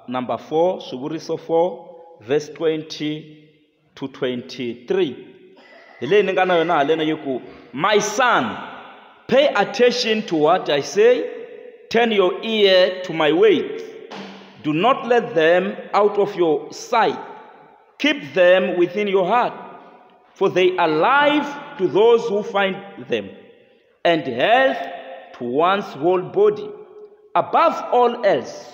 number 4 swivuriso 4 verse 20 to 23 hi leyi ni nga na yona halena yi ku my son pay attention to what i say turn your ear to my words do not let them out of your sight keep them within your heart for they are life to those who find them and health to one's whole body. Above all else,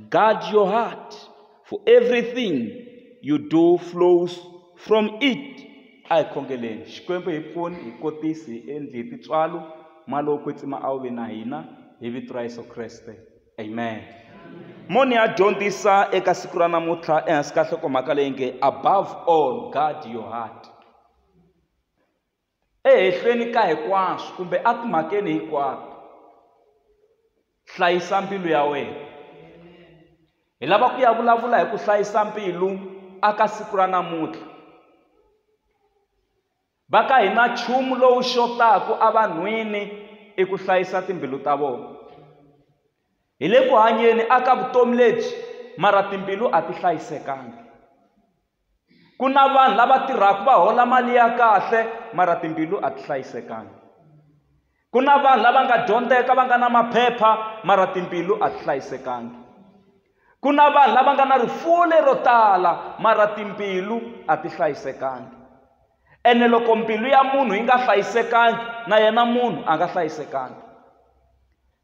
guard your heart, for everything you do flows from it. a hi khongeleni xikwembu hi pfuni hi kotisi hi endli hi tintswalo malo kwetsima a wu ve na hina hi vito ra yesu kreste amen moni ya dyondzisa eka siku ra namuntlha ehansi ka nhlokomhaka leyi nge above all guard your heart Ehehleni ka hinkwaswo, kumbe etimhakeni hinkwato, hlayisa mbilu ya wena. Hi lava ku ya vulavula hi ku hlayisa mbilu aka siku ra namuntlha. Va ka hina nchumu lowu xotaka evanhwini i ku hlayisa timbilu ta vona. Hi le ku hanyeni aka vutomi lebyi mara timbilu a ti hlayisekanga. ku na vanhu lava tirhaka va hola mali ya kahle mara timbilu a ti hlayisekanga ku na vanhu lava nga dyondzeka va nga na maphepha mara timbilu a ti hlayisekanga ku na vanhu lava nga na rifuwo lero tala mara timbilu a ti hlayisekanga ene loko mbilu ya munhu yi nga hlayisekangi na yena munhu a nga hlayisekangi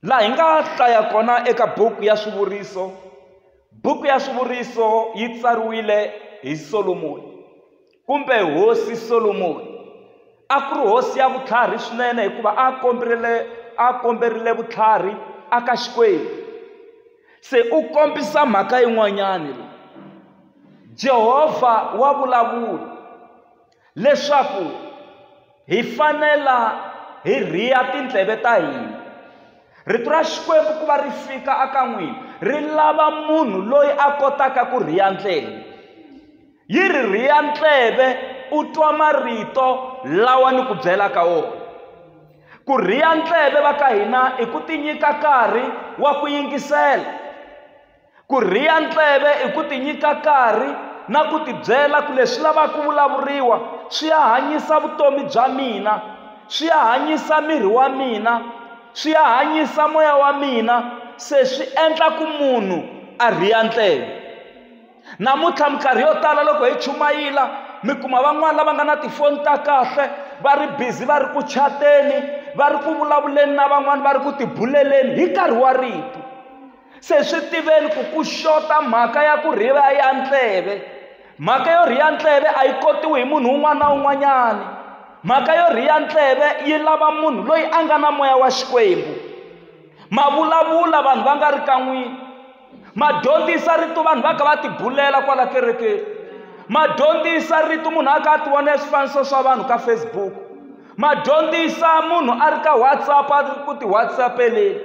laha hi nga hlaya kona eka buku ya swivuriso buku ya swivuriso yi tsariwile hi solomoni kumbe hosi solomoni a ku ri hosi ya vutlhari swinene hikuva a komberile a komberile vutlhari a ka xikwembu se u kombisa mhaka yin'wanyani jehovha wa vulavula leswaku hi fanela hi rhiya tindleve ta hina rito ra xikwembu ku va ri fika aka n'wina ri lava munhu loyi a kotaka ku rhiya ndleve yi ri rhiya ndleve u twa marito lawa ni ku byela ka wona ku rhiya ndleve va ka hina i ku tinyika nkarhi wa ku yingisela Ku rhiya ndleve i ku tinyika nkarhi na ku tibyela ku leswi lavaka ku vulavuriwa swi ya hanyisa vutomi bya mina swi ya hanyisa miri wa mina swi ya hanyisa moya wa mina se swi endla ku munhu a rhiya ndleve namuntlha minkarhi yo tala loko hi chumayila mi kuma van'wani lava nga na tifoni ta kahle va ri busy va ri ku chateni va ri ku vulavuleni na van'wani va ri ku tibuleleni hi nkarhi wa rito se swi tiveni ku ku xota mhaka ya ku rhiva ya ntleve mhaka yo rhiya ntleve a yi kotiwi hi munhu un'wana na un'wanyana mhaka yo rhiya ntleve yi lava munhu loyi a nga na moya wa xikwembu ma vulavula vanhu va nga ri kan'wini ma dyondzisa rito vanhu va ka va tibulela kwala kerekeni ma dyondzisa rito munhu a ka a ti vona swifaniso swa vanhu ka facebook ma dyondzisa munhu a ri ka whatsapp a ri ku ti whatsappeleni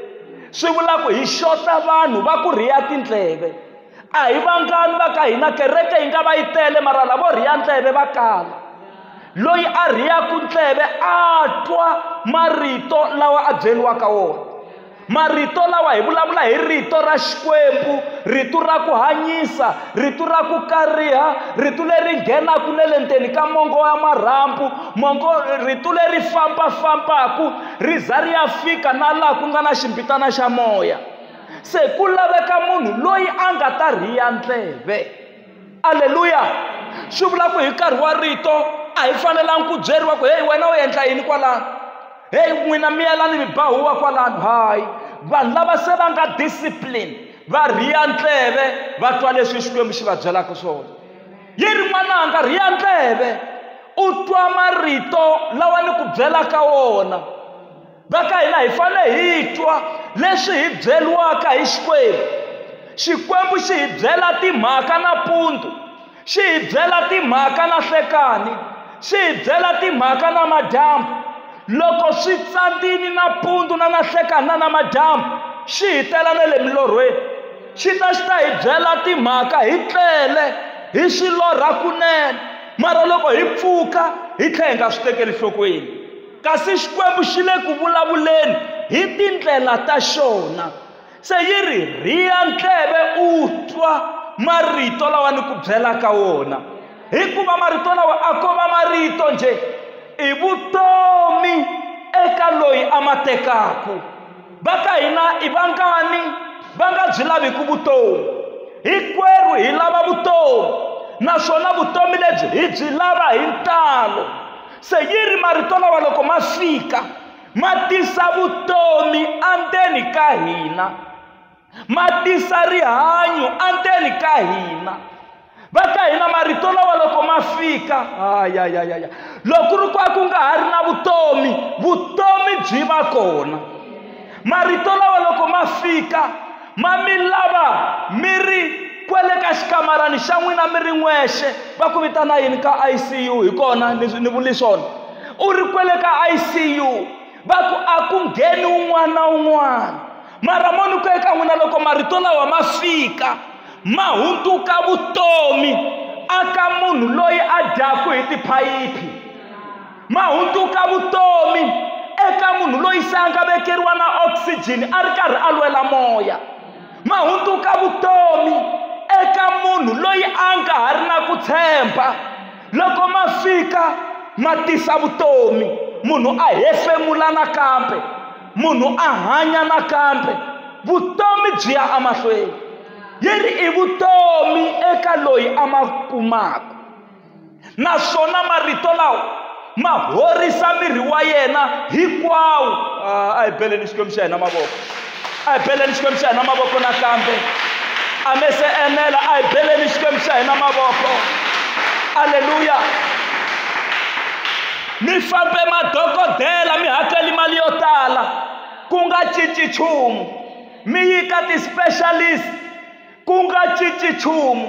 swi vula ku hi xota vanhu va ku rhiya tindleve a hi vangani va ka hina kereke yi nga va yi tele mara lavo rhiya ndleve va kala loyi a rhiyaku ndleve a twa marito lawa a byeriwaka wona marito lawa hi vulavula hi rito ra xikwembu rito ra ku hanyisa rito ra ku kariha rito leri nghenaka na le ndzeni ka mongo wa marhambu mongo rito leri fambafambaka ri za ri ya fika na laha ku nga na ximbitana xa moya se ku laveka munhu loyi a nga ta rhiya ndleve aleluya swi vula ku hi nkarhi wa rito a hi fanelangi ku byeriwa ku heyi wena u endla yini kwalano heyi n'wina miyelani mi ba huwa kwalano hayi vanhu lava se va nga discipline va rhiya ndleve va twa leswi xikwembu xi va byelaka swona yi ri n'wananga rhiya ndleve u twa marito lawa ni ku byelaka wona va ka hina hi fane hi twa leswi hi byeriwaka hi xikwembu xikwembu xi hi byela timhaka nampundzu xi hi byela timhaka na hlekani xi hi byela timhaka na madyambu loko swi tsandzini nampundzu na nahlekani na namadyambu xi hi tela na le milorhweni xi ta xi ta hi byela timhaka hi tlele hi swi lorha kunene mara loko hi pfuka hi tlhela hi nga swi tekeli nhlokweni Kasi Xikwembu xi le ku vulavuleni hi tindlela ta xona. Se yi ri, Rhiya ndleve u twa marito lawa ni ku byelaka wona. Hikuva marito lawa a ko va marito njhe, i vutomi eka loyi a ma tekaku. Va ka hina i vangani va nga byi laviku vutomi? Hikwerhu hi lava vutomi, naswona vutomi lebyi hi byi lava hi ntalo. se yi ri marito lawa loko ma fika ma tisa vutomi endzeni ka hina ma tisa rihanyo endzeni ka hina va ka hina marito lawa loko ma fika ayayayaya loko ri kwa ku nga ha ri na vutomi vutomi byi va kona marito lawa loko ma fika ma mi lava mi ri kwele ka xikamarani xa n'wina mi ri n'wexe va ku vitana yini ka icu hi kona ni vuli swona u ri kwele ka icu va ku a ku ngheni un'wana na un'wana mara mo ni ku eka n'wina loko marito lawa ma fika ma hunduka vutomi aka munhu loyi a dyaku hi tiphayiphi ma hunduka vutomi eka munhu loyi se a nga vekeriwa na oxygen a ri karhi a lwela moya ma hunduka vutomi eka munhu loyi a nga ha ri na ku tshemba loko ma fika ma tisa vutomi munhu a hefemula nakambe munhu a hanya nakambe vutomi byi ya emahlweni yi ri i vutomi eka loyi a ma kumaka naswona marito lawa ma horisa miri wa yena hinkwawo ah, a hi beleni xikwembu xa hina mavoko a hi beleni xikwembu xa hina mavoko nakambe a me se enela a hi beleni xikwembu xa hina mavoko aleluya mi fambe madokodela mi hakeli mali yo tala ku nga cinci nchumu mi yi ka ti-specialist Ku nga cinci nchumu.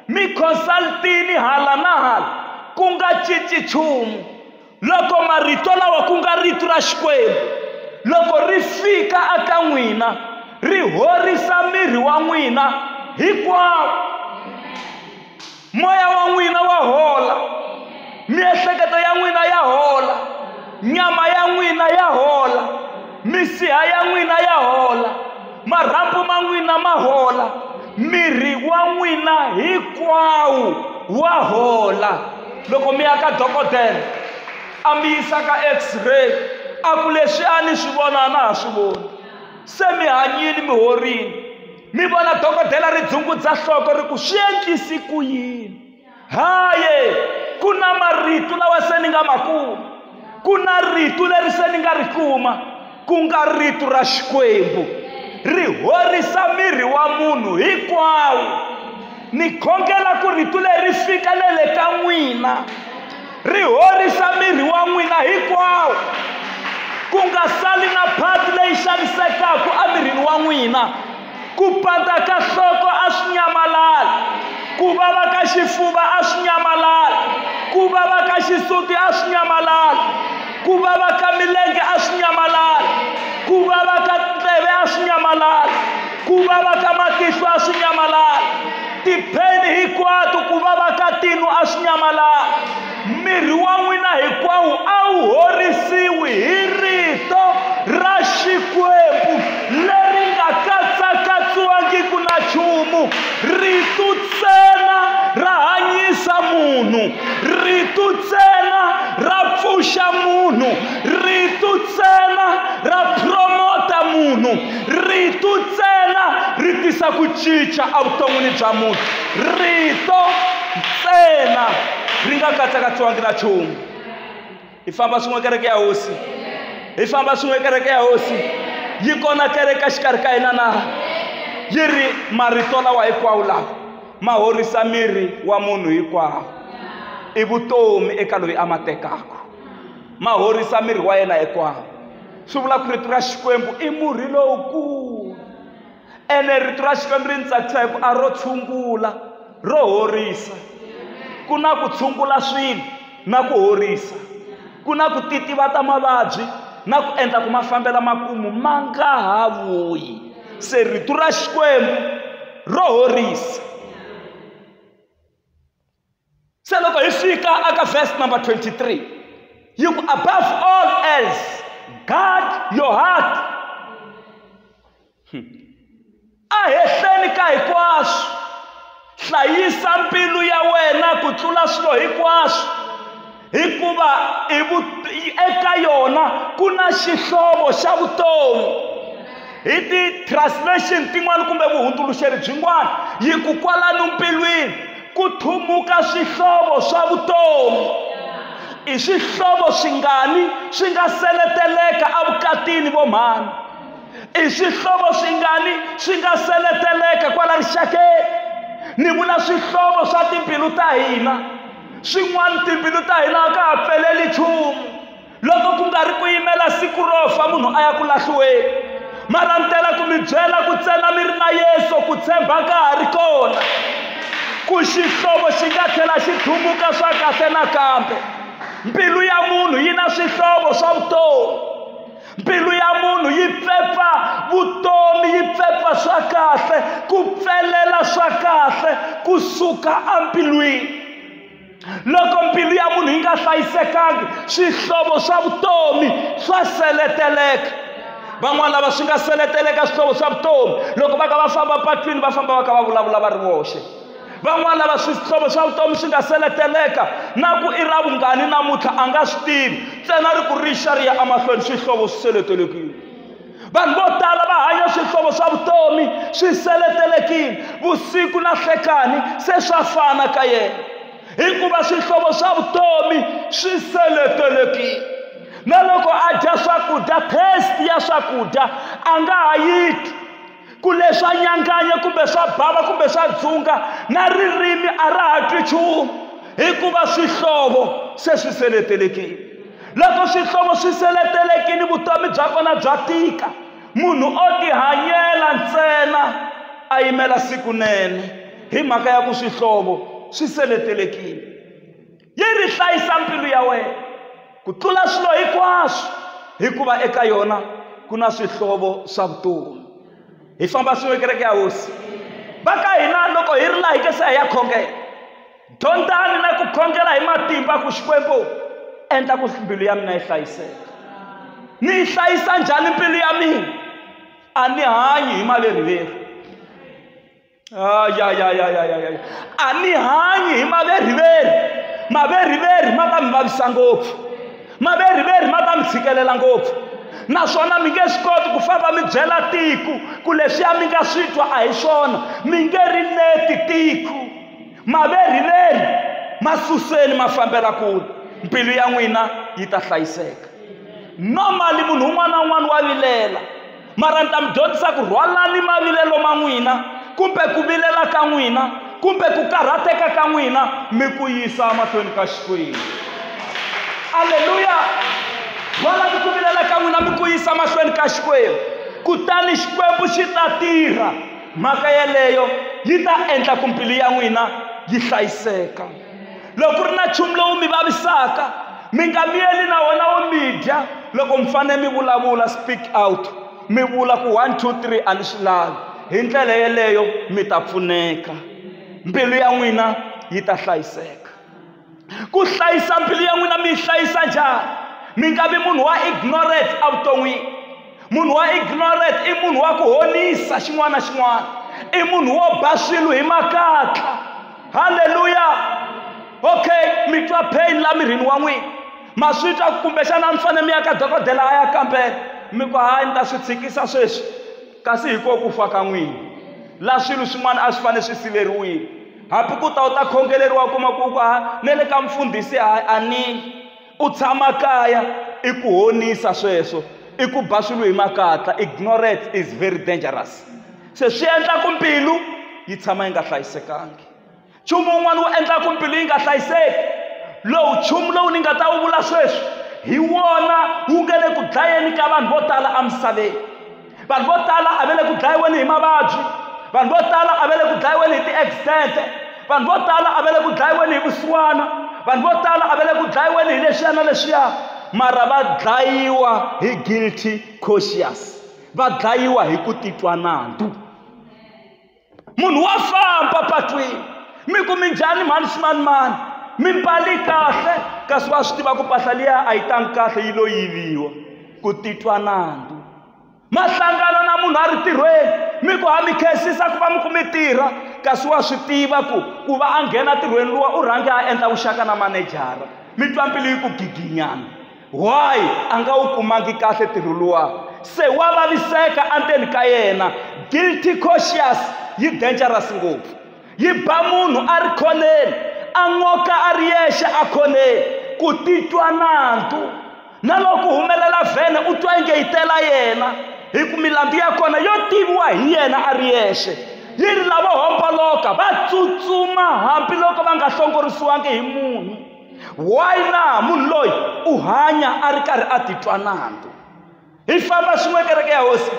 Mi consultini hala na hala, ku nga cinci nchumu. Loko marito lawa ku nga Rito ra Xikwembu, loko ri fika eka n'wina, ri horisa miri wa n'wina hinkwawo. moya wa n'wina wa hola miehleketo ya n'wina ya hola nyama ya n'wina ya hola misiha ya n'wina ya hola marhambu ma n'wina ma hola miri wa n'wina hinkwawo wa hola loko mi ya ka dokodela a mi yisa ka x-ray a ku leswi a ni swi vona a na ha swi voni se mi hanyile mi horile mi vona dokodela ri dzungudza nhloko ri ku swi endlisi ku yini haye ku na marito lawa se ni nga ma kuma ku na rito leri se ni nga ri kuma ku nga rito ra xikwembu ri horisa miri wa munhu hinkwawo ni khongela ku rito leri fika na le ka n'wina Ri horisa miri wa n'wina hinkwawo, ku nga sali na phati leyi xanisekaka emirini wa n'wina. Ku pandza ka nhloko a swi nyamalali, ku vava ka xifuva a swi nyamalali, ku vava ka xisuti a swi nyamalali, ku vava ka milenge a swi nyamalali, ku vava ka tindleve a swi nyamalali, ku vava ka matihlo a swi nyamalali. tipheni hinkwato ku vava ka tinu a swi nyamalanga miri wa n'wina hinkwawo a wu horisiwi hi rito ra xikwembu leri nga katsakatsiwangiku na nchumu ritu ntsena ra hanyisa munhu ritu ntsena ra pfuxa munhu ritu ntsena ra promota munhu rito ntsena ri tisa ku cinca evuton'wini bya munhu rito ntsena ri nga katsakatsiwangi na nchumu hi famba swin'we kereke ya hosi hi famba swin'we kereke ya hosi yi kona kereke xikarhi ka hina na yi ri marito lawa hinkwawo lawa ma horisa miri wa munhu hinkwawo i vutomi eka loyi a ma tekaka ma horisa miri wa yena hinkwawo swi vula ku rito ra xikwembu i murhi lowukulu ene rito ra xikwembu ri ni tsakisa hi ku a ro tshungula ro horisa ku na ku tshungula swilo na ku horisa ku na ku titiva ta mavabyi na ku endla ku ma fambela makumu ma nga ha vuyi se rito ra xikwembu ro horisa se loko hi fika aka verse number 23 yi ku above all else guard your heart hmm. a hehleni ka hinkwaswo hlayisa mbilu ya wena ku tlula swilo hinkwaswo hikuva eka yona ku na xihlovo xa vutomi hi ti-translation tin'wana kumbe vuhundzuluxeri byin'wana yi ku kwalano mbilwini ku thumuka swihlovo swa vutomi i swihlovo swingani swi nga seleteleka evukatini vo mhani i swihlovo swingani swi nga seleteleka kwala rixakeni ni vula swihlovo swa timbilu ta hina swin'wana timbilu ta hina a ka ha pfeleli nchumu loko ku nga ri ku yimela siku ro fa munhu a ya ku lahliweni mara ni tela ku mi byela ku tsena mi ri na yesu ku tshemba ka ha ri kona ku xihlovo xi nga tlhela xi thumuka swa kahle nakambe mbilu ya munhu yi na swihlovo swa vutomi mbilu ya munhu yi pfepfa vutomi yi pfepfa swa kahle ku pfelela swa kahle ku suka embilwini loko mbilu ya munhu yi nga hlayisekangi swihlovo swa vutomi swa seleteleka van'wana lava swi nga seleteleka swihlovo swa vutomi loko va ka va famba patwini va famba va ka va vulavula va ri voxe van'wana lava swihlovo swa vutomi swi nga seleteleka na ku i ra vungani namuntlha a nga swi tivi ntsena ri ku rixa ri ya emahlweni swihlovo swi seletelekile vanhu vo tala va hanya swihlovo swa vutomi swi seletelekile vusiku na hlekani se swa fana ka yena hikuva swihlovo swa vutomi swi seletelekile na loko a dya swakudya taste ya swakudya a nga ha yi twi ku leswa nyanganya kumbe swa bava kumbe swa dzunga na ririmi a ra ha twi nchumu hikuva swihlovo se swi seletelekile loko swihlovo swi seletelekile vutomi bya kona bya tika munhu o tihanyela ntsena a yimela siku nene hi mhaka ya ku swihlovo swi seletelekile yi ri hlayisa mbilu ya wena ku tlula swilo hinkwaswo hikuva eka yona ku na swihlovo swa vutomi hi famba swin'we kereke ya hosi va ka hina loko hi ri laha hi ke se hi ya khongela dyondzani na ku khongela hi matimba ku xikwembu endla ku mbilu ya mina yi hlayiseka ni yi hlayisa njhani mbilu ya mina a ni hanyi hi maleriveri ayayayayayaya a ni hanyi hi maveriveri maveriveri ma ta mi vavisa ngopfu maveriveri ma ta mi tshikelela ngopfu naswona mi nge swi koti ku famba mi byela tiko ku leswiya mi nga swi twa a hi swona mi nge ri neti tiko maveriveri ma suseni ma fambela kule mbilu ya n'wina yi ta hlayiseka normally munhu un'wana na un'wana wa vilela mara ni ta mi dyondzisa ku rhwalani mavilelo ma n'wina kumbe ku vilela ka n'wina kumbe ku karhateka ka n'wina mi ku yisa mahlweni ka xikwembu aleluya rhwalani ku vilela ka n'wina mi ku yisa mahlweni ka xikwembu kutani xikwembu xi ta tirha mhaka yeleyo yi ta endla ku mbilu ya n'wina yi hlayiseka loko ku ri na nchumu lowu mi vavisaka mi nga miyeli na wona wo mi dya loko mi fanele mi vulavula speak out mi vula ku one two three a ni swi lavi hi ndlela yeleyo mi ta pfuneka mbilu ya n'wina yi ta hlayiseka ku hlayisa mbilu ya n'wina mi yi hlayisa njhani mi nga vi munhu wa ignorance evuton'wini munhu wa ignorant i munhu wa ku honisa xin'wana na xin'wana i munhu wo ba swilo hi makatla halleluya okay mi twa pain la mirini wa n'wina ma swi twa kumbexana mi fanele mi ya ka dokodela a ya kambela mi ku hayi ni ta swi tshikisa sweswi kasi hi ko ku fa ka n'wina la swilo swin'wana a swi fanele swi siveriwile hambi ku ta u ta khongeleriwa kuma ku ku ha ne le ka mfundhisi a ni Ku tshama kaya i ku honisa sweswo i ku ba swilo hi makatla ignorance is very dangerous se swi endla ku mbilu yi tshama yi nga hlayisekangi nchumu wun'wana wu endla ku mbilu yi nga hlayiseki lowu nchumu lowu ni nga ta wu vula sweswi hi wona wu nga le ku dlayeni ka vanhu vo tala emisaveni vanhu vo tala a va le ku dlayiweni hi mavabyi vanhu vo tala a va le ku dlayiweni hi ti-accident vanhu vo tala a va le ku dlayiweni hi vusiwana vanhu vo tala a va le ku dlayiweni hi leswiya na leswiya mara va dlayiwa hi guilty conscious va dlayiwa hi ku titwa nandzu munhu wa famba patwini mi ku mi njhani mhani ximanimani mi mbali kahle kasi wa swi tiva ku mpahla liya a yi tangi kahle yi lo yiviwa ku titwa nandzu mahlangano na munhu a ri tirhweni mi ku ha mi khensisa ku va mi ku mi tirha kasi wa swi tiva ku ku va a nghena tirhweni luwa u rhange a endla vuxaka na manejara mi twa mbilu yi ku giginyana why a nga wu kumangi kahle ntirho luwa se wa vaviseka endzeni ka yena guilty cautious yi dangerous ngopfu yi ba munhu a ri khoneni a n'oka a ri yexe a khoneni ku titwa nandzu na loko humelela vhene u twa inge yi tela yena hi ku milandzu ya kona yo tiviwa hi yena a ri yexe yi ri lavo homboloka va tsutsuma hambiloko va nga hlongorisiwangi hi munhu why na munhu loyi u hanya a ri karhi a titwa nandzu hi famba swin'we kereke ya hosi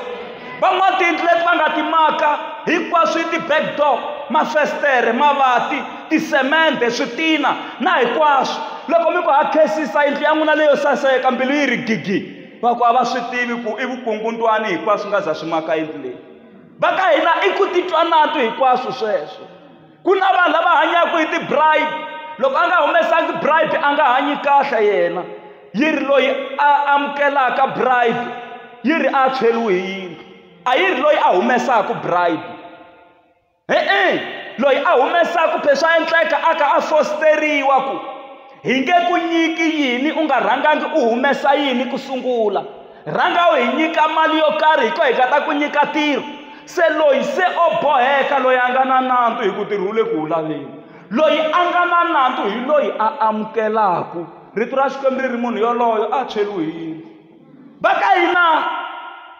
van'wana tiyindlu leti va nga ti maka hinkwaswo yi ti-back door mafestere mavati tisemende switina na hinkwaswo loko mi ku ha khesisa yindlu ya n'wina leyo saseka mbilu yi ri gigi va ku a va swi tivi ku i vukungundwani hinkwaswo nga za swi maka yindlu leyi va ka hina i ku titwa natu hinkwaswo sweswo Ku na vanhu lava hanyaka hi ti-bribe. Loko a nga humesangi bribe a nga hanyi kahle yena. Yi ri loyi a amukelaka bribe, yi ri a tshweriwe hi yindlu. A yi ri loyi a humesaka bribe. E-e loyi a humesaka phela swa endleka a kha a fositeriwa ku. hi nge ku nyiki yini u nga rhangangi u humesa yini ku sungula rhanga u hi nyika mali yo karhi hi ko hi nga ta ku nyika tiro se loyi se o boheka loyi a nga na nandzu hi ku tirhi wu le ku wu laveni loyi a nga na nandzu hi loyi a amukelaku rito ra xikwembu ri ri munhu yoloyo a tshweriwe yini va ka hina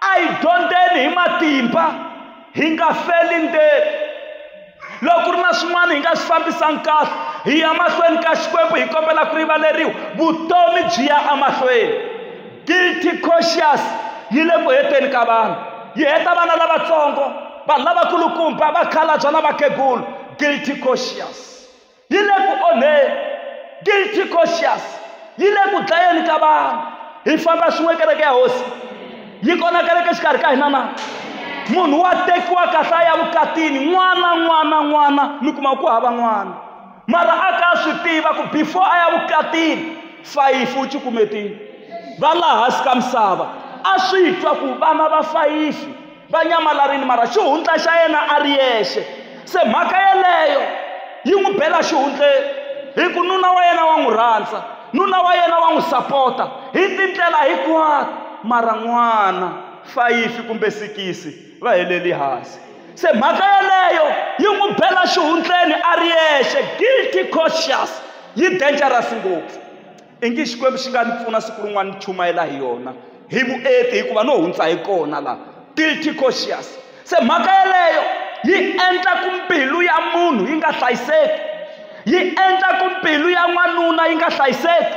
a hi dyondzeni hi matimba hi nga feli ndzeni loko ku ri na swin'wana hi nga swi fambisani kahle hi ya mahlweni ka xikwembu hi kombela ku rivaleriwa vutomi byi ya emahlweni guilty conscious yi le ku heteni ka vanhu yi heta vana lavatsongo vanhu lavakulukumba vakhalabya na vakhegulu guilty conscious yi le ku onheni guilty conscious yi le ku dlayeni ka vanhu hi famba swin'we kereke ya hosi yi kona kereke xikarhi ka hina na munhu wa tekiwa kahle a ya vukatini n'wana n'wana n'wana mi kuma ku hava n'wana mara a ka swi tiva ku before a ya vukatini fayifi u cukumetini va laha hansi ka misava a swi twa ku vana va fayifi va nyamalarile mara xihundla xa yena a ri yexe se mhaka yeleyo yi n'wi bela xihundleni hi ku nuna wa yena wa n'wi rhandza nuna wa yena wa n'wi sapota hi tindlela hinkwato mara n'wana fayifi kumbe sikisi va heleli hansi se mhaka yeleyo yi n'wi bela xihundleni a ri yexe guilty conscious yi dangerous ngopfu ingi xikwembu xi nga ni pfuna siku rin'wana ni chumayela hi yona hi vuenti hikuva no hundza hi kona la guilty conscious se mhaka yeleyo yi endla ku mbilu ya munhu yi nga hlayiseki yi endla ku mbilu ya n'wanuna yi nga hlayiseki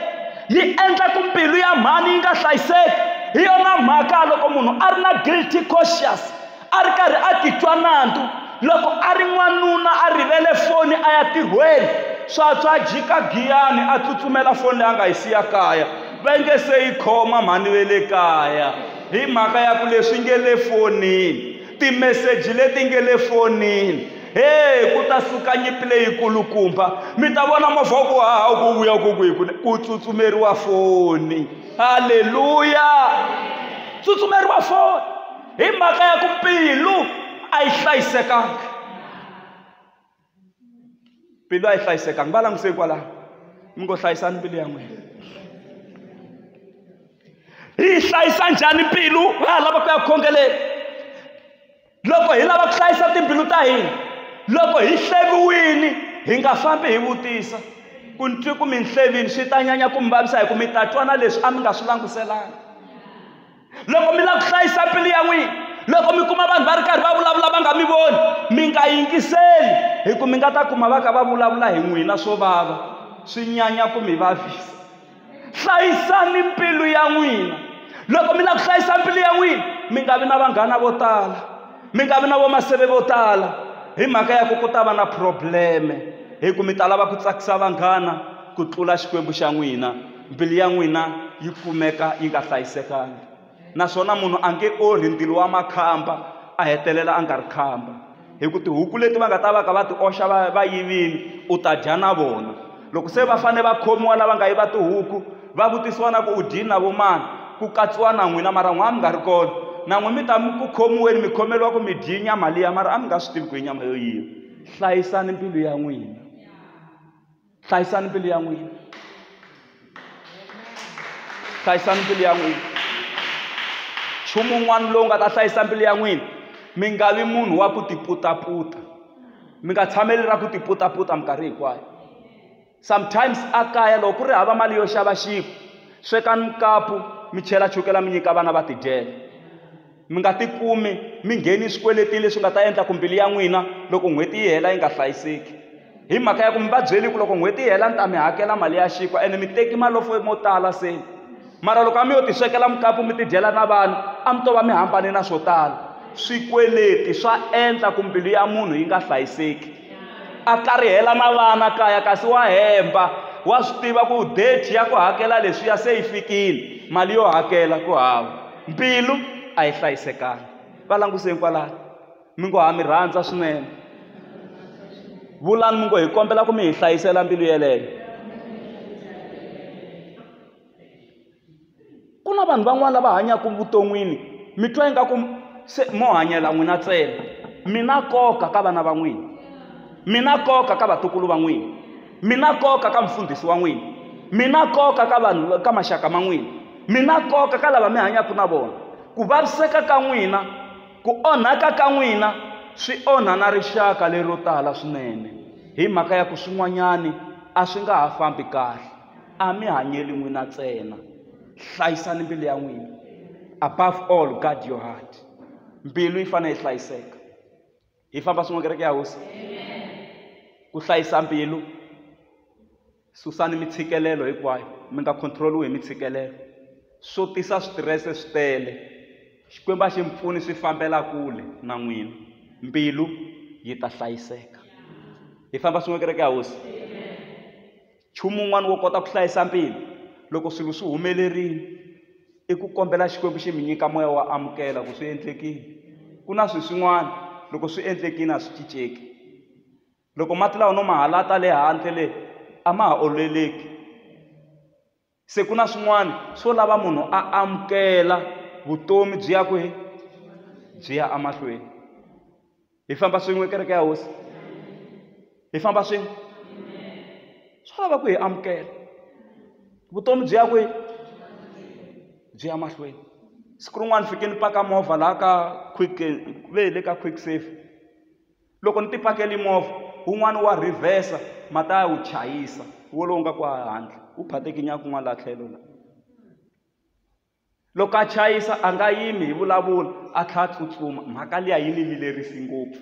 yi endla ku mbilu ya mhani yi nga hlayiseki hi yona mhaka loko munhu a ri na guilty conscious a ri karhi a titwa nandzu loko a ri n'wanuna a rivele foni a ya tirhweni swatswa jika giyani a tsutsumela foni leyi a nga yi siya kaya va nge se yi khoma mhani ve le kaya hi mhaka ya ku leswi nge le fonini timeseji leti nge le fonini he ku ta suka nyipi leyikulukumba mi ta vona movha wa ku haha wu ku vuya ku ku hi ku ku tsutsumeriwa foni halleluya tsutsumeriwa foni hi mhaka ya ku mbilu a yi hlayisekanga mbilu a yi hlayisekanga va languse hikwalaho mi ngo hlayisani mbilu ya n'wina hi yi hlayisa njhani mbilu ha lava ku ya khongeleni loko hi lava ku hlayisa timbilu ta hina loko hi hleviwini hi nga fambi hi vutisa ku ni twi ku mi ni hlevini swi ta nyanya ku mi vavisa hi ku mi ta twana leswi a mi nga swi languselanga loko mi lava ku hlayisa mbilu ya n'wina loko mi kuma vanhu va ri karhi va vulavula va nga mi voni mi nga yingiseli hi ku mi nga ta kuma va ka va vulavula hi n'wina swo vava swi nyanya ku mi vavisa hlayisani mbilu ya n'wina loko mi lava ku hlayisa mbilu ya n'wina mi nga vi na vanghana vo tala mi nga vi na vomaseve vo tala hi mhaka ya ku ku ta va na probleme hi ku mi ta lava ku tsakisa vanghana ku tlula xikwembu xa n'wina mbilu ya n'wina yi kumeka yi nga hlayisekanga naswona munhu a nge orhi ndilo wa makhamba a hetelela a nga ri khamba hi ku tihuku leti va nga ta va ka va ti oxa va va yivini u ta dya na vona loko se va fanele va khomiwa lava nga yiva tihuku va vutisiwa na ku u dyini na vo mani ku katsiwa na n'wina mara n'wina mi nga ri kona na n'wi mi ta mi ku khomiweni mi khomeriwa ku mi dyi nyama liya mara a mi nga swi tivi ku i nyama yo yiva hlayisani mbilu ya n'wina hlayisani mbilu ya n'wina hlayisani mbilu ya n'wina nchumu wun'wana lowu nga ta hlayisa mbilu ya n'wina mi nga vi munhu wa ku tiputaputa mi nga tshameli ra ku tiputaputa minkarhi hinkwayo sometimes a kaya loko ku ri hava mali yo xava xinkwa swekani mukapu mi chela chukela mi nyika vana va tidyela mi nga tikumi mi ngheni swikweletini leswi nga ta endla ku mbilu ya n'wina loko n'hweti yi hela yi nga hlayiseki hi mhaka ya ku mi va byeli ku loko n'hweti yi hela ni ta mi hakela mali ya xinkwa ene mi teki malofo mo tala se mara loko a mi yo ti swekela mukapu mi tidyela na vana a mi to va mi hambane na swo tala swikweleti swa endla ku mbilu ya munhu yi nga hlayiseki a karihela na vana kaya kasi wa hemba wa swi tiva ku date ya ku hakela leswiya se yi fikile mali yo hakela ku hava Mbilu a yi hlayisekanga. Va languse kwalano. Mi ngo ha mi rhandza swinene. Vulani mi ngo hi kombela ku mi hi hlayisela mbilu yeleyo. Ku na vanhu van'wana lava hanyaka vuton'wini mi twa ingaku se mo hanyela n'wina ntsena. Mi na nkoka ka vana va n'wina, mi na nkoka ka vatukulu va n'wina. mi na nkoka ka mfundhisi wa n'wina mi na nkoka ka vanhu ka maxaka ma n'wina mi na nkoka ka lava mi hanyaka na vona ku vaviseka ka n'wina ku onhaka ka n'wina swi onha na rixaka lero tala swinene hi mhaka ya ku swin'wanyani a swi nga ha fambi kahle a mi hanyeli n'wina ntsena hlayisani mbilu ya n'wina above all guard your heart mbilu yi fanele yi hlayiseka hi famba swin'we kereke ya hosi ku hlayisa mbilu susani mitshikelelo hinkwayo mi nga controliwi hi mitshikelelo swo tisa switirese swi tele xikwembu a xi mi pfuni swi fambela kule na n'wina mbilu yi ta hlayiseka hi famba swin'we kereke ya hosi Nchumu wun'wana wo kota ku hlayisa mbilu loko swilo swi humelerile i ku kombela Xikwembu xi mi nyika moya wo amukela ku swi endlekile. Ku na swilo swin'wana loko swi endlekile a swi cinceki. Loko mati lawa no ma halata le handle le a ma ha oleleki. Se ku na swin'wana swo lava munhu a amukela vutomi byi ya kwihi byi ya emahlweni hi famba swin'we kereke ya hosi hi famba swin'we swa lava ku hi amukela vutomi byi ya kwihi byi ya mahlweni siku rin'wana fike ni paka movha laha ka quick ku ve hi le ka quick safe. loko ni tipakeli movha wun'wani wa rhivhesa ma ta ya wu chayisa wolowo nga ku handle wu phatekinya kun'wana laha tlhelo la loko a chayisa a nga yimi hi vulavula a tlhela a tsutsuma mhaka liya yi ni vilerisi ngopfu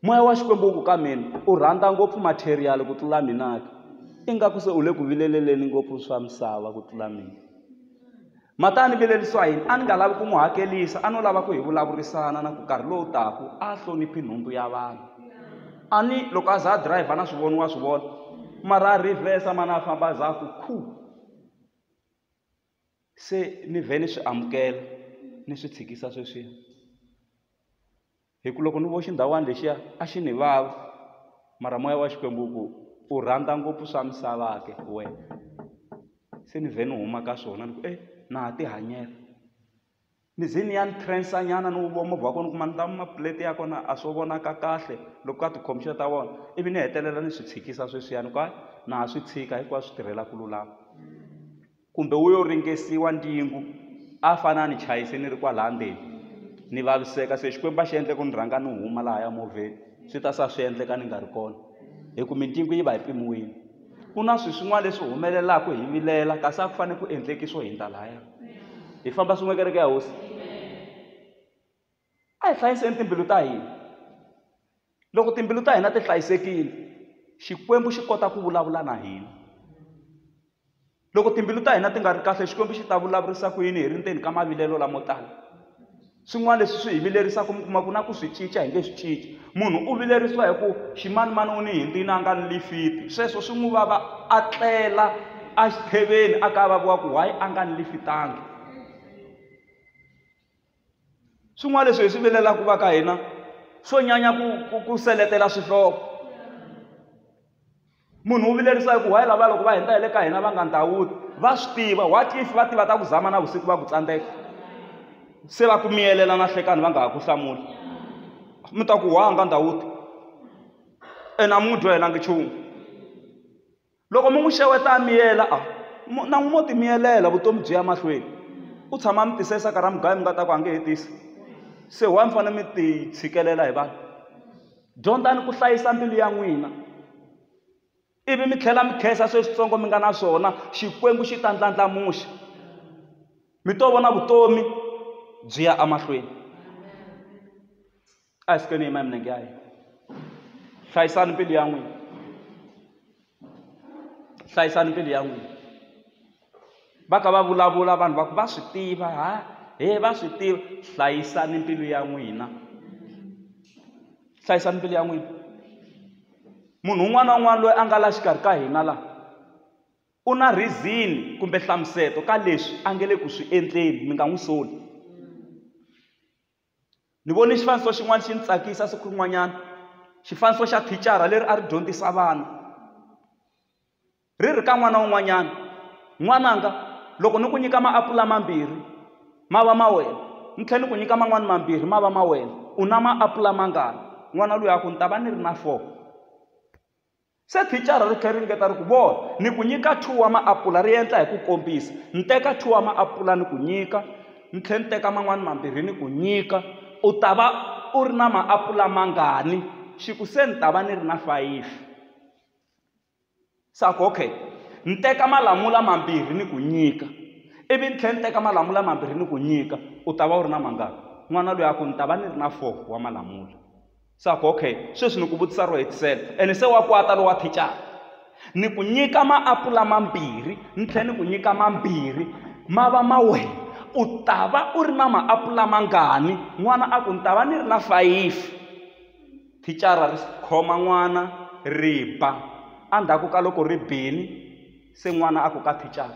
moya wa xikwembu wu ku ka mina u rhandza ngopfu material ku tlula minaka ingaku se u le ku vileleleni ngopfu swa misava ku tlula mina Mata a ni vilerisiwa yini? A ni nga lavi ku n'wi hakelisa, a no lava ku hi vulavurisana na ku nkarhi lowu taku a hloniphi nhundzu ya vanhu. A ni loko a za a driver na swi vona wa swi vona mara a reverse mani a famba a za a ku khu. Se ni vhe ni swi amukela ni swi tshikisa sweswiya. hi ku loko ni vo xindhawana lexiya a xi ni vava mara moya wa xikwembu ku u rhandza ngopfu swa misava ke wena se ni vhe ni huma ka swona ni ku e na ha ti hanyela ni ze ni ya ni transa nyana ni wu vona movha wa kona ni kuma ni ta maplate ya kona a swo vonaka kahle loko ka ti-computer ta vona ivi ni hetelela ni swi tshikisa sweswiyani ku hayi na ha swi tshika hinkwaswo swi tirhela ku lulama. Kumbe wu yo ringesiwa ndingu, a fane a ni chayise ni ri kwalaha ndzeni. Ni vaviseka, se Xikwembu a xi endle ku ni rhanga ni huma lahaya movheni, swi ta sa swi endleka ni nga ri kona, hi ku mindingu yi va yi pimiwile. Ku na swi swin'wana leswi humelelaka hi vilela, kasi a ku fane ku endleki swo hindza lahaya. Hi famba swin'we, kereke ya Hosi! A hi hlayiseni timbilu ta hina. Loko timbilu ta hina ti hlayisekile, Xikwembu xi kota ku vulavula na hina. Loko timbilu ta hina ti nga ri kahle Xikwembu xi ta vulavurisa ku yini hi ri ndzeni ka mavilelo lamo tala? Swin'wana leswi swi hi vilerisaka mi kuma ku na ku swi cinca hi nge swi cinci. Munhu u vilerisiwa hi ku ximanimani u ni hindini a nga ni lifiti, sweswo swi n'wi vava a tlela exitheveni a kavaviwa ku why a nga ni lifitangi. swin'wana leswi hi swi vilelaka va ka hina swo nyanya ku ku ku seletela swihloko munhu wu vilerisa hi ku wayi lava loko va hindza hi le ka hina va nga ndhawuti va swi tiva what if va tiva ta ku zama na vusiku va ku tsandzeka se va ku miyelela na hlekani va nga ha ku hlamuli mi ta ku wa nga ndhawuti ene a mi n'wi dyohelanga nchumu loko mi n'wi xeweta a miyela a mo na n'wi mo ti miyelela vutomi byi ya mahlweni u tshama a mi tise saka ra mugayo mi nga ta ku a nge he tisi se why mi fanele mi ti tshikelela hi vanhu dyondzani ku hlayisa mbilu ya n'wina ivi mi tlhela mi khensa sweswitsongo mi nga na swona xikwembu xi ta ndlandlamuxa mi to vona vutomi byi ya emahlweni a hi sukeni yima hi milenge ya hina hlayisani mbilu ya n'wina hlayisani mbilu ya n'wina va ka va vulavula vanhu va ku va swi tiva ha he va swi tiva hlayisani mbilu ya n'wina hlayisani mbilu ya n'wina munhu un'wana na un'wana loyi a nga la xikarhi ka hina laha u na rhizini kumbe hlamuseto ka leswi a nge le ku swi endleni mi nga n'wi soli Ni vone xifaniso xin'wana xi ni tsakisa siku rin'wanyana xifaniso xa thicara leri a ri dyondzisa vana ri ri ka n'wana wun'wanyana n'wananga loko ni ku nyika maapula mambirhi ma va ma wena ni tlhela ni ku nyika man'wani mambirhi ma va ma wena u na maapula mangani n'wana luya a ku ni ta va ni ri na four. Se thicara ri tlhe ri ringeta ri ku, Vona, ni ku nyika two wa maapula, ri endla hi ku kombisa. Ni teka two wa maapula ni ku nyika, ni tlhe ni teka man'wana mambirhi ni ku nyika. U ta va u ri na maapula mangani? Xi ku, Se ni ta va ni ri na fayifi. Se a ku, Okay, ni teka malamula mambirhi ni ku nyika, ivi ni tlhe ni teka malamula mambirhi ni ku nyika, u ta va u ri na mangani? N'wana luya a ku, Ni ta va ni ri na four wa malamula. se a ku okay sweswi ni ku vutisa ro hetisela ene se wa kwata lowa thicara ni ku nyika maapula mambirhi ni tlhela ni ku nyika mambirhi ma va ma wena u ta va u ri na maapula mangani n'wana a ku ni ta va ni ri na fayifi thicara ri khoma n'wana ri ba endzhaku ka loko ri bini se n'wana a ku ka thicara